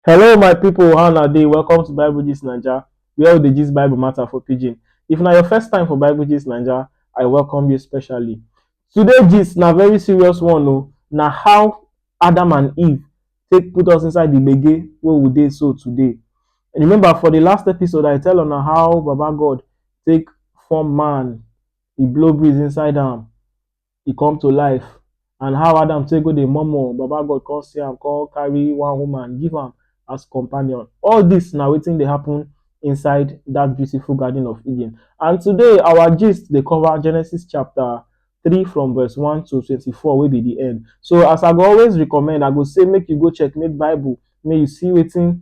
Hello my people, how una dey? Welcome to Bible Gist Naija, where we dey gist Bible matter for pidgin. If na your first time for Bible Gist Naija, I welcome you specially. Today gist na very serious one o, na how Adam and Eve take put us inside the gbege wey we dey so today. Remember for the last episode, I tell una how Baba God take form man, he blow breeze inside am, e come to life and how Adam take go dey murmur, Baba God come see am come carry one woman give am as companion. All dis na wetin dey happen inside dat beautiful garden of Eden and today our gist dey cover Genesis chapter three from verse one to twenty four wey be de end. So as I go always recommend, I go say make you go checkmate bible make you see wetin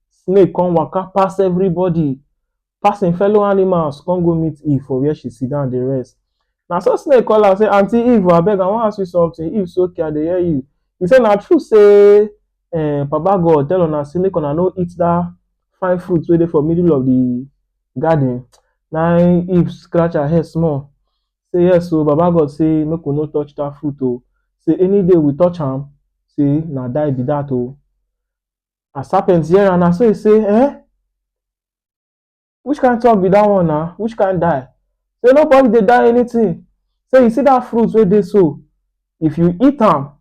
Snake come waka pass everybody, pass im fellow animals come go meet Eve for where she sit down dey rest. Na so snake call am say, Aunty Eve o, abeg I wan ask you something. Eve say, Okay, I dey hear you. He say, Na true say um Baba God tell una say make una no eat that fine fruit wey dey for middle of the garden? Na im Eve scratch her head small say, Yes o, Baba God say make we no touch that fruit o, say any day we touch am, say na die be that o. As Serpent hear am, na so e say, Eh? Which kind talk be that one na? Which kind die? Say nobody dey die anything. Say you see that fruit wey dey so, if you eat am,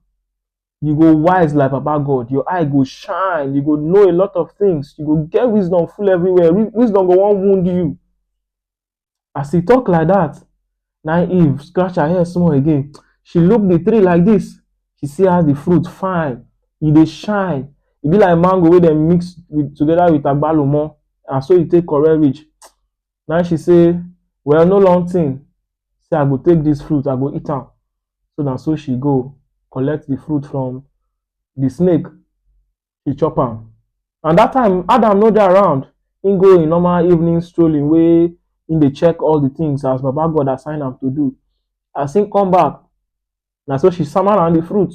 you go wise like Baba God. Your eye go shine. You go know a lot of things. You go get wisdom full everywhere. Wi- Wisdom go wan wound you. As he talk like that, na Eve scratch her head small again. She look the tree like this. She see as the fruit fine, e dey shine. E be like mango wey dem mix with, together with agbalumo. Na so e take correct reach. Na she say, well, no long thing. Say I go take this fruit, I go eat am. So na so she go collect the fruit from the snake. he chop am. And that time, Adam no dey around. He go in normal evening strolling wey he dey check all the things as Baba God assign am to do. As he come back, na so she sama am the fruit.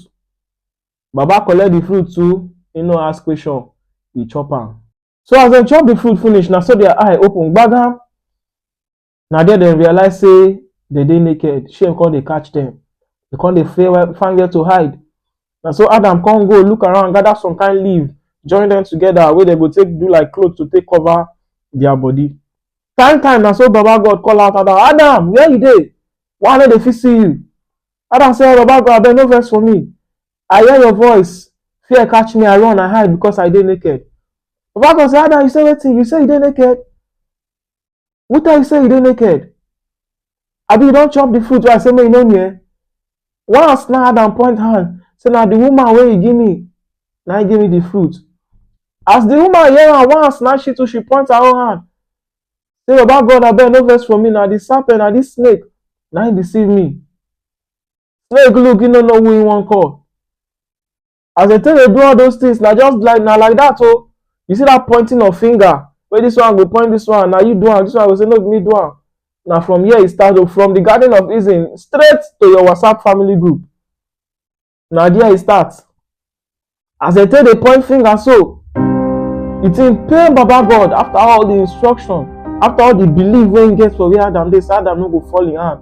Baba collect the fruit too, he no ask question, he chop am. So as dem chop the fruit finish, na so their eye open gbagam. na there dem realize say dem dey naked shame come dey catch dem dem come dey fear where find where to hide na so adam come go look around gather some kind leaf join dem together wey dem go take do like cloth to take cover their body time time na so baba god call out adam adam where you dey why i no dey fit see you adam say baba god abeg no vex for me i hear your voice fear catch me i run i hide because i dey naked baba god say adam you say wetin you say you dey naked who tell you say you dey naked abi you don chop the fruit wey i say make you no near once na adam point hand say na the woman wey you give me na him give me the fruit as the woman hear am once na she too she point her own hand say baba god abeg no vex for me na the serpent na this snake na him deceive me snake look he no know who he wan call as dem take dey do all those things na just like na like that o you see that pointing of finger wey this one go point this one na you do am this one go say no be me do am na from here e start o from the garden of eden straight to your whatsapp family group na there e start as dem take dey point finger so the thing pain baba god after all the instruction after all the belief wey he get for where adam dey say adam no go fall him hand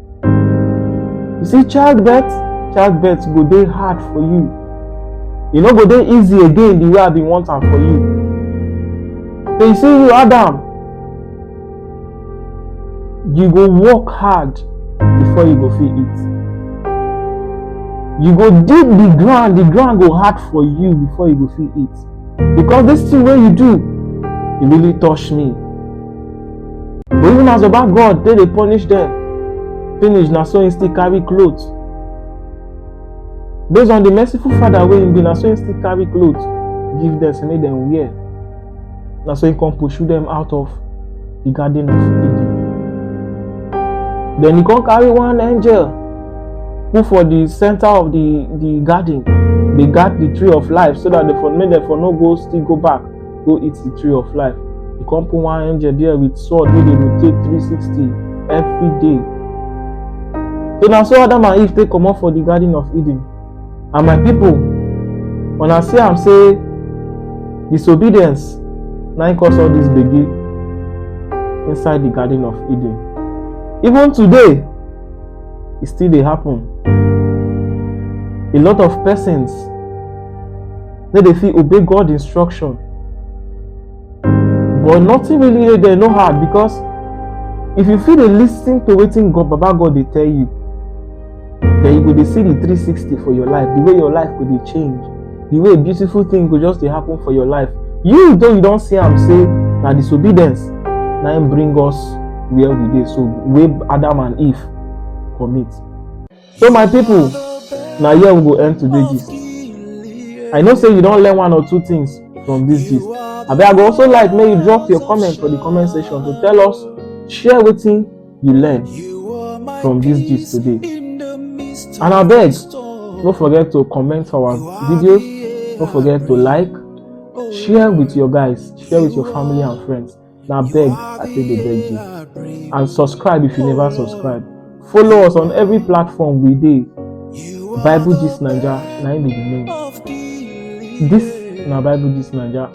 You see, childbirth, childbirth go dey hard for you. E no go dey easy again the way I bin want am for you. But you see you, Adam, you go work hard before you go fit eat. You go dig the ground, the ground go hard for you before you go fit eat. Because this thing wey you do, e really touch me. But even as Baba God take dey punish dem, finish na so im still carry cloth. Based on the merciful Father wey im be, na so im still carry cloth give dem say make dem wear. Na so im come pursue dem out of the garden of Eden. Then he come carry one angel put for the center of the the garden dey guard the tree of life so that they for make dem for no go still go back go eat the tree of life you come put one angel there with sword wey dey rotate 360 every day so na so adam and eve take comot for the garden of eden and my people una see am say disobedience na im cause all this gbege inside the garden of eden even today e still dey happen a lot of persons no dey fit obey god instruction but nothing really dey there no hard because if you fit dey lis ten to wetin god baba god dey tell you then you go dey see the 360 for your life the way your life go dey change the way beautiful thing go just dey happen for your life you though you don see am say na disobedience na im bring us where we dey so wey adam and eve commit So my people, na here we go end today gist. I know say you don learn one or two things from this gist. Abi I go also like make you drop your comment for the comment section to tell us, share wetin you learn from this gist today. And abeg, no forget to comment for our videos, no forget to like, share with your guys, share with your family and friends. Now beg, I say they beg you. And subscribe if you never subscribe. Follow us on every platform we dey. Bible Gist Naija, na im be the name. This na Bible Gist Naija.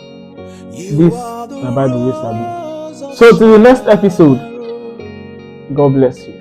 This na Bible wey sabi. So till the next episode, God bless you.